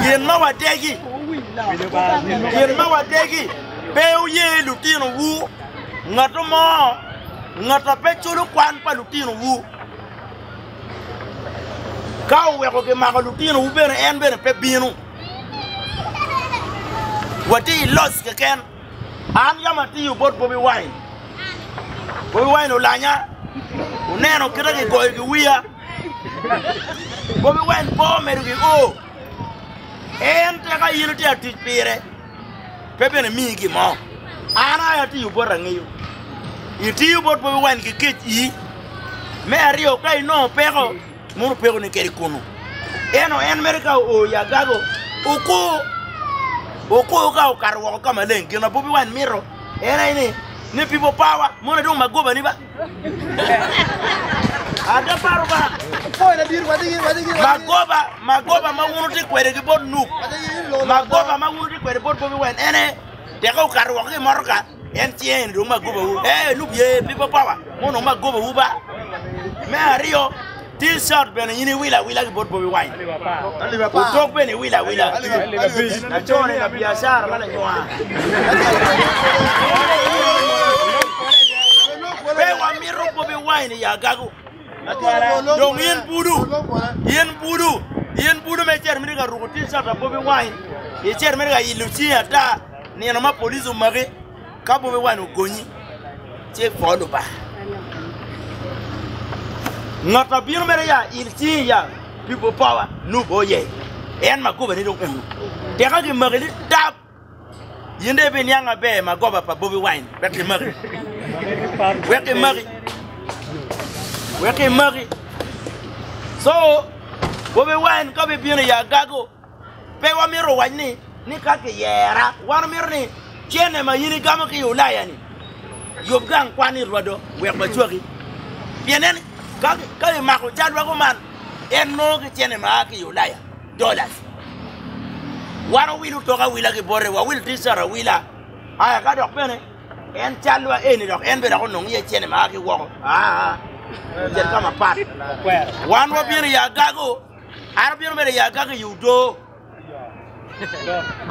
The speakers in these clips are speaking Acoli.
Gin ma wadegi, gin ma wadegi, pe wuye lutinowu, ngatu mo, ngata pe culo kwan pa lutinowu. Ka oweko gimako lutinowu bene en bene pe bino. Watye i loc keken. An yam atiyo bot Bobi Wine. Bobi Wine olanya, oneno kite gigoyo ki wiya. Bobi Wine po medo ki o. En te ka in itye atic pire, pe bene miyi gin mo. An aye atiyo bot angeyo. Itiyo bot Bobi Wine ki kec i. Me aryo ka inongo peko, Modo peko ni kede kunu. Eno en mere ka oo i agago, oko, oko ka okato woko ka maleng. Gin ma Bobi Wine mito en aye ni, ni people power, moni dong magoba ni ba. Ada paro ba, magoba, magoba ma wun wutye kwede ki bot Nup, magoba ma wun wutye kwede bot Bobi Wine en aye teke okato woko ki i motoka, En tye eni dong magobawu? Ee, enongo ye pi papawa ma onongo magobawu ba. Me aryo, T-shirt bene in iwilo awila ki bot Bobi Wine. Otok bene iwilo awila. Lacone labiacara ma lanywa. Pe wamito Bobi Wine i agago. atwala. Dong in budu, in budu, in budu ma icito miti ka ruko T-shirt pa Bobi Wine, icito miti ka ilo cingi ata nino ma police omaki ka Bobi Wine ogonyi, ci ipor Lubanga. Ngat ma bino mere ya il cingi ya pi Bopowa nubbo ye, en ma gobane dong eno. Tika kimaki ni tab? In dong ibiniang maber ma goba pa Bobi Wine wek imaki. Wek imaki. Wek imaki. So, Bobi Wine ka bibino i agago, pe wamito wac ni ni ka kiyera, wan omito ni cene ma in igamo ki i Ulaya-ni, yub gang kwan i rwado wek wacwaki. Pien nen, ka imako cal weko man, en nongo ki cene ma a ki i Ulaya. dollars. Wan owil otok awila ki bote, wawil T-shirt awila, aya ka dok bene en calwa eni dok en bene dok onongo iye cene ma a ki woko, aa, ocit ka mapat. Wan wabino i agago, an abino bedo i agago i Odoo.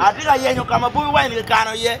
Atye ka yenyo ka ma Bobi Wine kikano iye.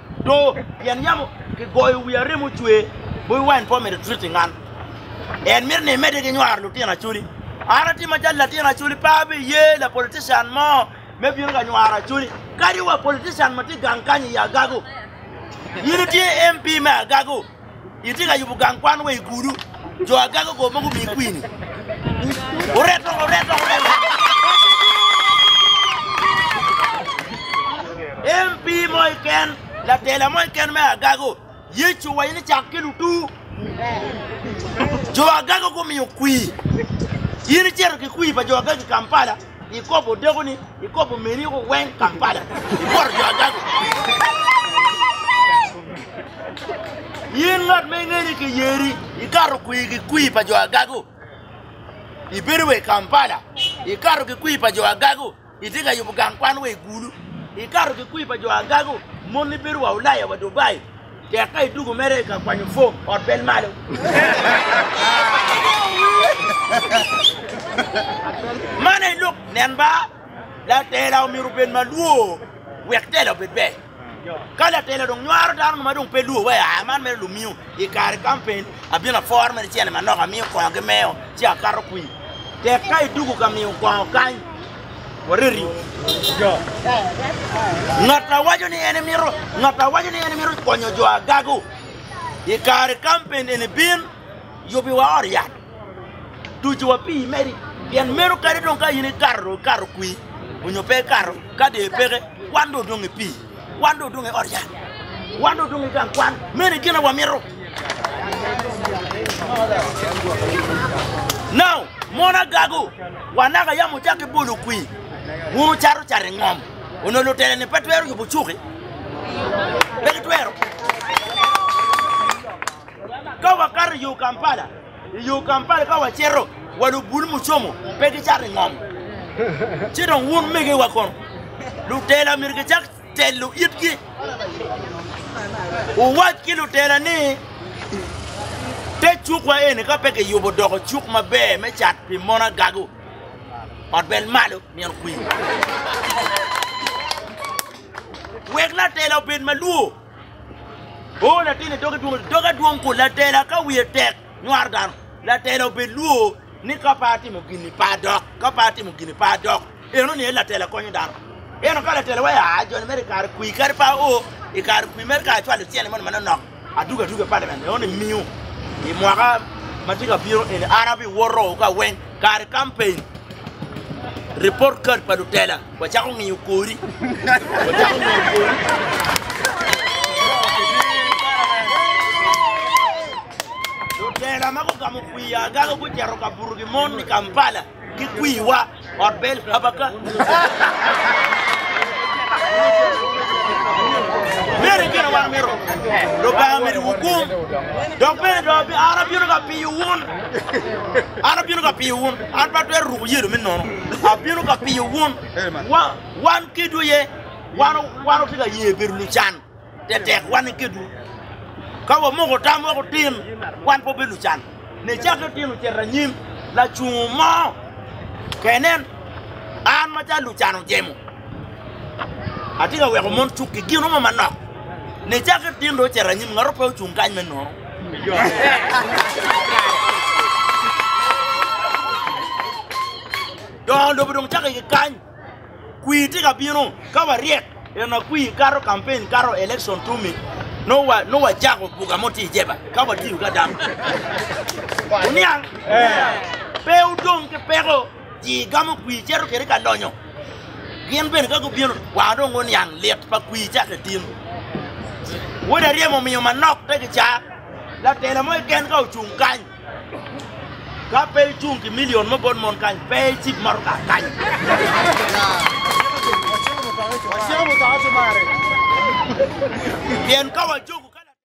Do pien yam kigoyo wi arem ocwer, Bobi Wine pe omedo twit i ngan. En mito ni emedde ki nywaro lutino Acholi. An atye macalo latin Acholi, pe abiye la politician mo me bino ka nywaro Acholi. Kadi wa politician ma tye gang kany i Agago, in itye MP me Agago. Itye ka yubo gang kwan wa i gudu? Jo agaga go ma gumiyi kwini. Oret dok, oret dok, oret dok. MP mo iken, latela mo iken me agago, Yecu owaco ni cak ki lutu. Jo agago gumiyo kwi. In icito ki kwi pa jo agago i Kampala? Ikobo odeko ni ikobo meri oko weng Kampala ikoto jo adago. In ngat ma inge ni kiyeri ikato kwir ki kwir pa jo agago. Ibedo wa i Kampala ikato ki kwir pa jo agago itye ka yubo gang kwan wa i Gulu ikato ki kwir pa jo agago moni bedo wa Ulaya wa Dubai. Tek ka idwogo mere i ka kwanyo fom, ot bel malo. Man aye lok, nen ba, latela omyero obed ma lwor wek tela obed ber. Ka latela dong nywaro dano mo ma dong pe lwor wai, aa, man mere lumiyo i kare kampeen, abino aforo mere cene manok, amiyo kongo ki meyo, ci akato kwir. Tek ka idwogo ka miyo kongo kany. Wareti jo. Ngat a waco ni en emito, ngat a waco ni en emito konyo jo agago i kare kampen eni bin yubiwa ot yat, tucuwa pii medi, pien meno kadi dong ka in ikato dong ikato kwii onyo pe ikato ka dee peke wan dong odong i pii. Wan dong odong i ot yat. Wan dong odong i gang kwan. Meno e gin ma wamito. Now, mon agago, wanaka yam wucako ki bolo kwir, wun wucato cat i ngom. Onongo lutela-ni pe twero yubo cuki? Pe gitwero. Ka wakato i yo Kampala, I yo Kampala ka wacito, wa lubul mucomo pe gicato i ngom, ci dong wun megiwa kono lutela myero gicak telo itgi, wuwac ki lutela ni, 'Te cukwa eni ka pe kiyubo doko cuk maber me cat pi mon agago, ot bel malo nino kwir. Wek latela obed malwo. O latin i doge dwong, doge dwong kun latela ka wiye tek nywaro dano. Latela obed lwo ni ka pe atimo gini pe adok, ka pe atimo gini pe adok. Eno ni en latela konyo dano. Eno ka latela wai aa joni mere i kare kwi kadi pe ao i kare kwi mere ka acwalo tyene moni manonok adwogo adwogo i palimen eno ni miyo i mwaka ma tye ka bino eni an abiwoto ka weng kare kampen, report card pa lutela. Wacako ngiyo kori. Wacako ngiyo kori. Lutela ma gugamo kwii agaga gucito ka buto gi mon i Kampala ki kwiiwa ot bel habaka. Mere gin wan mito Lubanga medi wukum dok bene dong an abino ka piyo wun. An abino ka piyo wun. An pe atwero ruko yelo me nono. Abino ka piyo wun. Wan kedwu aye. Wan watye ka ye bedo lucan tetek, wan ni kedwu. Ka wamoko tam wek otin, wan pe wabedo lucan. Nicakke otin ocito anyim, lacungo mo kei nen, An macalo lucan ojemo, atye ka weko mon cukki gin mo manok. Nicakke otin dong ocito anyim, ngat mo pe ocung kany me nono. Dongo lobo dong cako ki kany. Kwir tye ka bino ka waryek en akwir kato kampen kato election tumi no wa no wa jako buka mo ti jeba ka wa tiyo ka dam. Uniang? Pe udong ki peko Cii gamo kwir cito kede ka donyo, gin bene ka gubino kwar dong guniang lit pa kwir cak i tim. Wod aryem omiyo manok pe gicaa, latela mo keken ka ocung kany, ka pe icung ki milion mo bot mon kany, pe icib motoka kany. Pien ka wacogo ka latela.